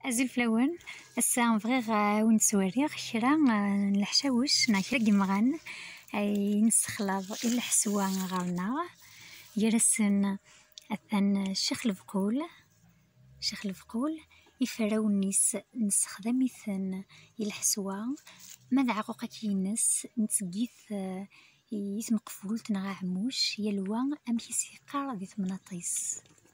Azul fell-awen, ass-a bɣiɣ eh, ad wen-ttweriɣ kra eh, n leḥcawec neɣ kra n yemɣan ay nessexlaḍ i lḥeswa ɣer-neɣ, gar-asen atan Ccix Lebqul, Ccix Lebqul, iferrawen-is nessexdam-iten i lḥeswa, ma d aɛquqak-ines netteg-it eh, i tmeqfult neɣ aɛmuc, yal wa amek i s-yeqqar di temnaḍt-is.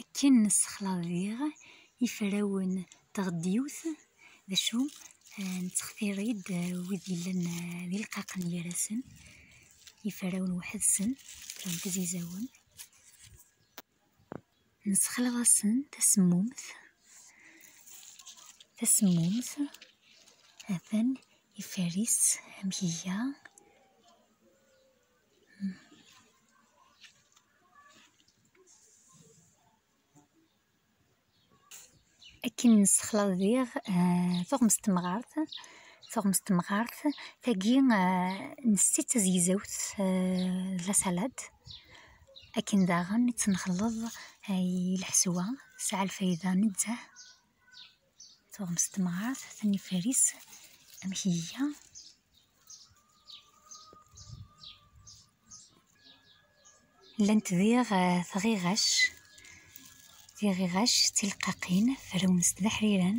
Akken nessexlaḍ diɣ iferrawen n tɣeddiwt, d acu, nettextir-id wid yellan d ileqqaqen gar-asen, iferrawen weḥd-sen, kra n tizizawin, nessexlaḍ-asen tasemmumt, tasemmumt, ha-t-an iferr-itt amek iga. Akken nessexlaḍ diɣ tuɣmest n temɣart, tuɣmest n temɣart tagi nsett-itt d tazegzawt d la salad, akken daɣen i tt-nxelleḍ i lḥeswa, tesɛa lfayda nezzeh. tuɣmest temɣart atan ifaris amek iga llant diɣ eh, tɣiɣac tiɣiɣac d tilqaqin frawnes d aḥriran